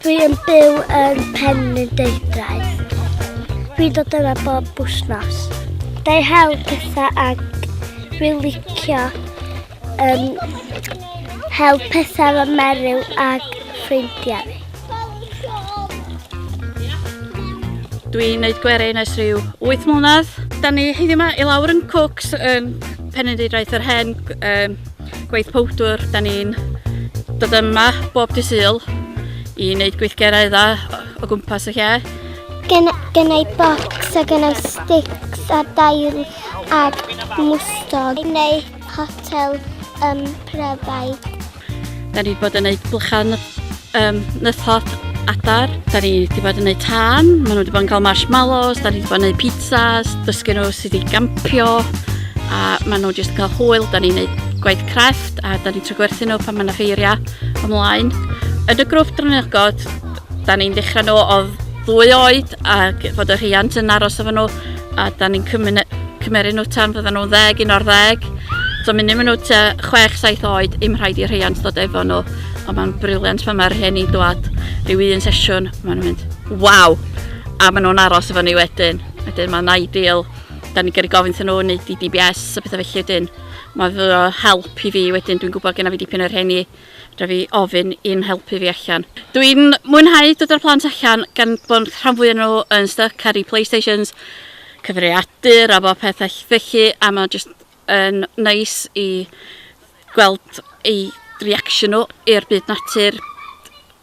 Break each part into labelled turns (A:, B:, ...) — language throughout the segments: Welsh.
A: Dwi yn byw yn Pen y Deidrau. Dwi dod yna bob bwsnos. Dau hel pethau ag dwi licio um, hel pethau fy meryw ag ffrindiau fi.
B: Dwi'n gwneud gwerin ers rhyw 8 mlynedd. Da ni heddiw yma i lawr yn Cooks, um, Penedidraeth yr Hen, um, gweith powdwr. Da ni'n dod yma bob di syl i wneud gweithgerau dda o gwmpas y lle. Gen, gennau
A: bocs a gennau sticks a dail a mwstog. Neu hotel um, pryfau.
B: Da ni wedi bod yn gwneud blychau um, nythod adar. Da ni wedi bod yn gwneud tân, maen nhw wedi bod yn cael marshmallows, da ni wedi bod yn gwneud pizzas, dysgu nhw sydd wedi gampio, a maen nhw jyst yn cael hwyl, da ni'n gwneud gwaith crefft, a da ni'n trwy gwerthu nhw pan mae yna ffeiriau ymlaen. Yn y grwp Drynogod, da ni'n dechrau nhw o ddwy oed ac fod y rhiant yn aros efo nhw a da ni'n cymeru nhw tan fyddan nhw'n ddeg, un o'r ddeg. So mynd nhw ta 6-7 oed, im rhaid i rheiant dod efo nhw. Ond mae'n briliant pan mae'r rhieni'n dwad rhyw un sesiwn, maen nhw'n mynd, waw! A maen nhw'n aros efo ni wedyn. Wedyn mae'n ideal. Da ni'n gyrru gofyn thyn nhw wneud i DBS a pethau felly wedyn. Mae fy help i fi wedyn, dwi'n gwybod gen i fi dipyn o'r rheni. Rhaid fi ofyn i'n helpu fi allan. Dw i'n mwynhau dod â'r plant allan gan bod y rhan fwya o nhw yn styc ar eu Playstations, cyfrifiadur a bob peth felly a mae jyst yn neis i gweld eu reaction nhw i'r byd natur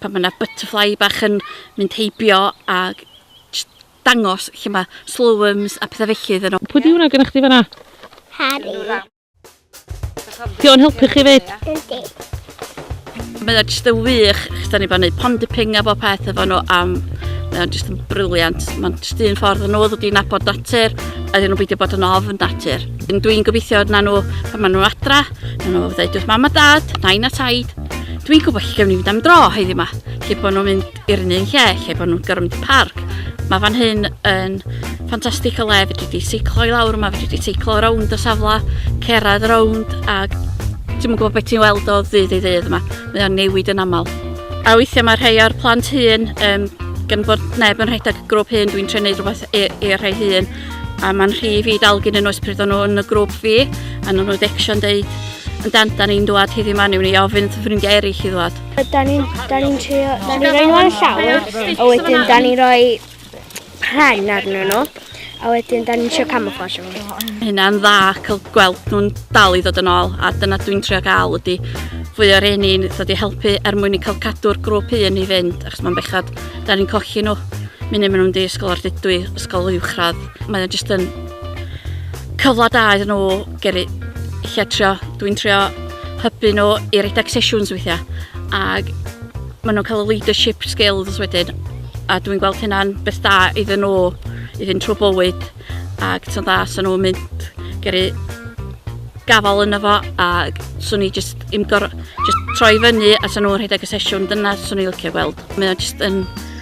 B: pan mae 'na butterfly bach yn mynd heibio a jyst dangos lle mae slowworms a pethau felly iddyn nhw. Pwy 'di hwnna gennych chdi fan'na?
C: Harri. Di o'n helpu chi fyd? Yndi.
B: Mae o'n jyst yn wych, chos da ni bod yn gwneud pond y ping a bob peth efo nhw am... Mae o'n jyst yn briliant. Mae'n jyst un ffordd yn nhw wedi nabod natur, a dyn nhw'n beidio bod yn ofn natur. Dwi'n gobeithio na nhw, pan maen nhw adra, na nhw ddeud wrth mam a dad, nain a taid, dwi'n gwybod lle gawn ni fynd am dro heddi yma, lle bod nhw'n mynd i'r un un lle lle bod nhw'n gorfod mynd i parc. Mae fan hyn yn ffantastig o le, fedri di seiclo i lawr yma, fedri di seiclo rownd y safle, cerad rownd ac ti'n gwybod beth ti'n weld o ddydd i ddydd yma. Mae o'n newid yn aml. A weithiau mae rhai o'r plant hun, um, gan bod neb yn rhedeg y grŵp hun, dwi'n trenu rhywbeth i'r rhai hun. A mae'n rhi i fi dalgyn yn oes pryd o'n nhw yn y grŵp fi, a nhw'n nhw'n ddection dweud, yn dan, da ni'n dwad heddiw ma, ni'n ni ofyn wrth ffrindiau eraill i ddwad. Da ni'n da ni'n
A: trio, da ni'n rhoi nhw ar y llawr, a wedyn da ni'n rhoi pren arnyn nhw, a wedyn da ni'n trio camouflage nhw. Hynna'n dda
B: cael gweld nhw'n dal i ddod yn ôl, a dyna dwi'n trio gael ydy fwy o'r un i'n ddod i helpu er mwyn i cael cadw'r grŵp un i fynd, achos mae'n bechod, da ni'n cochi nhw. Mynd maen nhw'n di ysgol o'r dydwy, ysgol uwchradd. Mae o'n jyst yn cyfle da iddyn nhw gyrru lle trio, dwi'n trio hybu nhw i redeg sesiwns weithiau ac maen nhw'n cael y leadership skills wedyn a dwi'n gweld hynna'n beth da iddyn nhw i fynd trwy bywyd ac ti'n dda sy'n nhw'n mynd gyrru gafal yna fo a swn i jyst im gor... jyst troi fyny a sy'n nhw'n rhedeg y sesiwn dyna swn i'n licio gweld. Mae o jyst yn